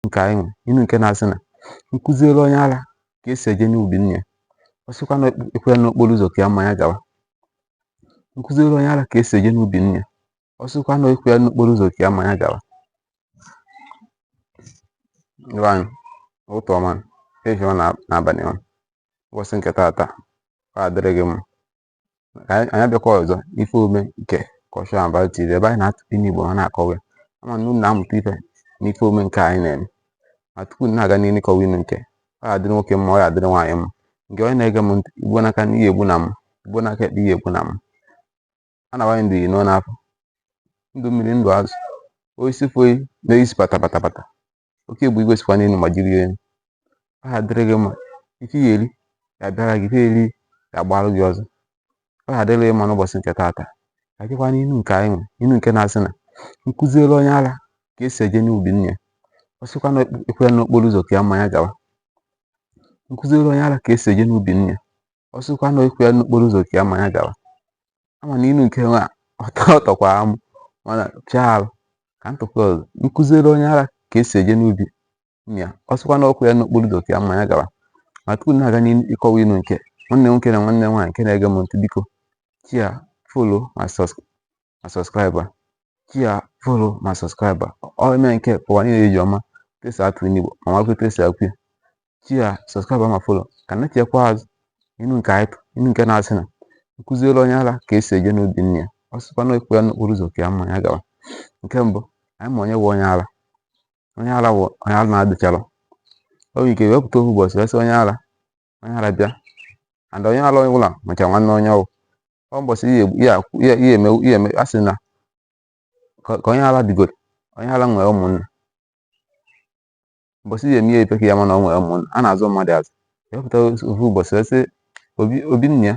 nke anyị nwe inu nke na-asị na nkụziere onye ara ka esi eje n'ubi nne ya ọ sịkwa na ekwela n'okporo ụzọ ka ya mmanya gawa nkụziere onye ara ka esi eje n'ubi nne ya ọ sịkwa na ekwela n'okporo ụzọ ka ya mmanya gawa ibe anyị, ụtụtụ ọma, ehihie ọma na abalị ọma ụbọchị nke taata ọ adịrị gị mma anyị abịakwa ọzọ n'ife omume nke Culture and Value TV ebe anyị na-atụkọ inu Igbo ha na-akọwa ya ama m na unu na-amụta ife n'ife omume nke anyị na-eme ma tupu na-aga n'ihu ịkọwa inu nke ọ ga-adịrị nwoke mma ọ ga-adịrị nwaanyị mma nke onye na-ege m ntị igbo n'aka nri ihe egbuna m igbo n'aka ekpe ihe egbuna m a na-awanye ndụ iyi n'ọnụ afọ ndụ mmiri ndụ azụ osisi foyi na-eyisi pata pata pata oke bụ igwe sikwa n'elu ma jiri elu ọ ga-adịrị gị mma ife ị ya-eri ya bịara gị ife eri ya gbarụ gị ọsọ ọ ga-adịrị gị mma n'ụbọchị nke taata ka dịkwa n'inu nke anyị nwe inu nke na-asị na nkụziere onye ara ka esi eje n'ubi nne ya ọ sịkwa na ekwere n'okporo ụzọ ka ya mmanya gawa nkụziere onye ara ka esi eje n'ubi nne ya ọ sịkwa na okwu ya n'okporo ụzọ ka ya ma ya gawa ama m na inu nke nwa ọ tọkwara m mana pịa arụ ka m tụkwa ọzọ nkụziere onye ara ka esi eje n'ubi ya ọ sịkwa na ọkwa ya n'okporo ụzọ ka ya ma ya gawa ma tupu na-aga n'ịkọwa inu nke nwanne nwoke na nwanne nwaanyị nke na-ege m ntị biko share follow ma subs ma subscribe share follow ma subscribe ọ eme nke ka ụwa niile ji ama etu e si atụ inu Igbo ma makwa etu e si akọwa ya share subscribe ma follow ka na chekwa azụ inu nke anyị inu nke na-asị na nkụziere onye ara ka esi eje n'ubi nne ya ọ sịkwa na ekwe ya n'okporo ụzọ ka ya mma ya gawa nke mbụ anyị ma onye bụ onye ara onye ara bụ onye arụ na-adịcharọ e nwere ike wepụta ofu ụbọchị wee sị onye ara onye ara bịa and onye ala ọbụla macha nwanne onye ọ wụ ọ mbọsị ihe eme ihe eme a sị na ka onye ala digoro onye ala nwere ụmụnna mbọsị ihe eme ihe epeka ya ma na o nwere ụmụnna a na-azụ mmadụ azụ ewepụta ofu ụbọchị wee sị obi nne ya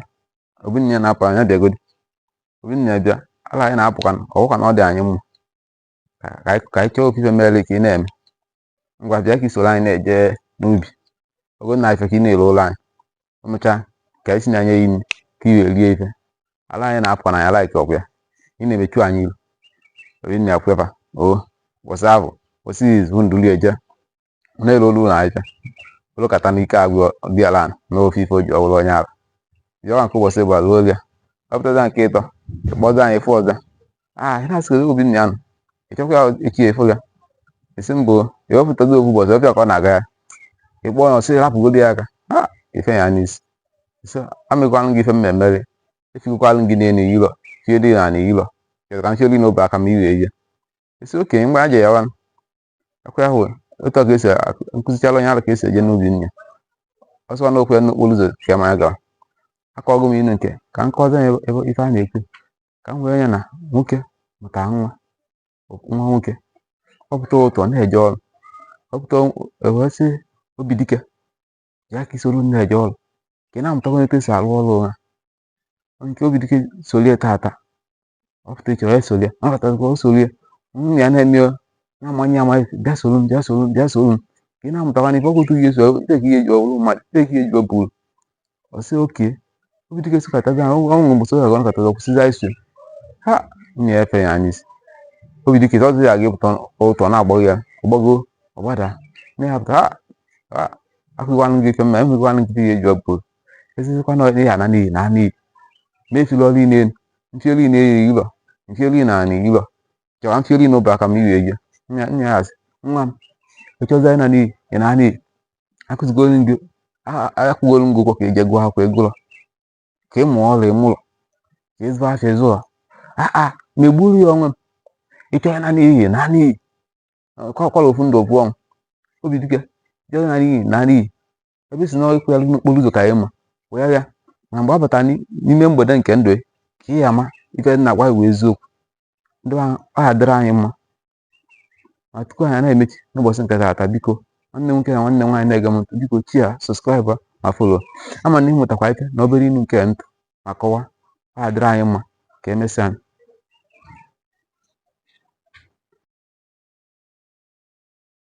obi nne ya na-apụ ala bịagodi obi nne ya bịa ala a ị na-apụkwa ọ wụkwa na ọ dị anyị mma ka anyị chọọ ofu ife mere ka ị na-eme ngwa bịa ka i soro anyị na-eje n'ubi ogo na ife ka ị na-ere ụlọ anyị emechaa ka anyị si na anya ya imi ka i wee rie ife ala a ị na-apụ na ya laiki ọkụ ya ị na-emechu anyị iru obi nne ya ekwe mbọsị ahụ mbọsị izu ndụli eje ọ na-arụ ọlụ na ife ọ lụkata na ike agwụ dị ala na ofe ife o ji wụrụ onye ala bịawa nke ụbọchị ịbụa lue oge ọpụtaza nke ịtọ ịkpọza anyị fụ ọzọ ah ị na-asị obi nne ya nọ ị chọkwa ya echi efu ya esi mbụ ya wepụtago ofu ụbọchị ọ bịa ka ọ na-aga ya ị kpọọ ya ọ sị rapụgodi ya aka ha ife ya n'isi so amekwanụ gị ife m na-eme gị echigokwalụ gị n'elu ilo chie dị na ala ilo chọrọ ka m chiori n'obe aka m iwe ihe esi okenye mgbe a ji ya wanụ akwa ahụ otu a ka esi kụzichala onye ara ka esi eje n'ubi nne ọ sịkwa n'okwu ya n'okporo ụzọ ka ya ma ya gawa akọgo m inu nke ka m kọzie ya ebe ife a na-ekwu ka m wee ya na nwoke mụta nwa nwa nwoke ọ pụta ụtụtụ na-eje ọrụ ọ pụta o wee sị obidike bịa ka i soro m na-eje ọrụ ka ị na-amụtakwa etu esi arụ ọrụ ụra nke obidike solie taata ọ pụta echi o solie ọ pụtakwa o solie nwunye ya na-eme ya na-amanye ya amanye bịa soro m bịa soro m bịa soro m ka ị na-amụtakwa n'ife ọkụ otu ga-eji ọrụ ndị ka ga-eji abụrụ mmadụ ndị ka ga-eji abụrụ ọ sị oke obidike sokatazi ha ọnwụ mgbe soja ga nakọtazi ọ kwụsịzi iso ha na efe ya anya sị obidike ọzọ ya ga-apụta ụtụtụ na-agbago ya ọ gbago ọ gbada na ya pụta akụgwanụ gị ife mma enwegwanụ gị ihe eji ọbụ ezizikwa na ị na-ana n'iyi na-ana n'iyi na-etili ọrụ ị na mfioli ị na-eyi ụlọ mfioli ị na-ana iyi ụlọ chọwa mfioli n'ụba ka m iwe ejie nna ya asị nwa m ị chọzi ịna n'iyi ị na n'iyi akụzigoro m gị a- a- akwụgoro m gị ụgwọ ka i je gụọ akwụkwọ ị gụlọ ka ị mụọ ọrụ ị mụlọ ka ị zụ afịa ị zụlọ ama m egburu gị onwe m ị chọ ịna n'iyi na n'iyi ọ kwa ofu ndụ ofu ọnwụ obidike ị chọ ịna n'iyi na n'iyi ebe ị sị na ikwu ya n'okporo ụzọ ka anyị ma wee ya na mgbe ọ batara n'ime mgbede nke ndụ ka ị ya-ama ife m na-agwa ị wụ eziokwu ndị ọ ga-adịrị anyị mma ma tupu anyị na-emechi n'ụbọchị nke taata biko nwanne nwoke na nwanne nwaanyị na-ege m ntị biko share subscribe ma follow ama m na ị mụtakwa ife na obere inu nke m tụ ma kọwa ọ ga-adịrị anyị mma ka emesịa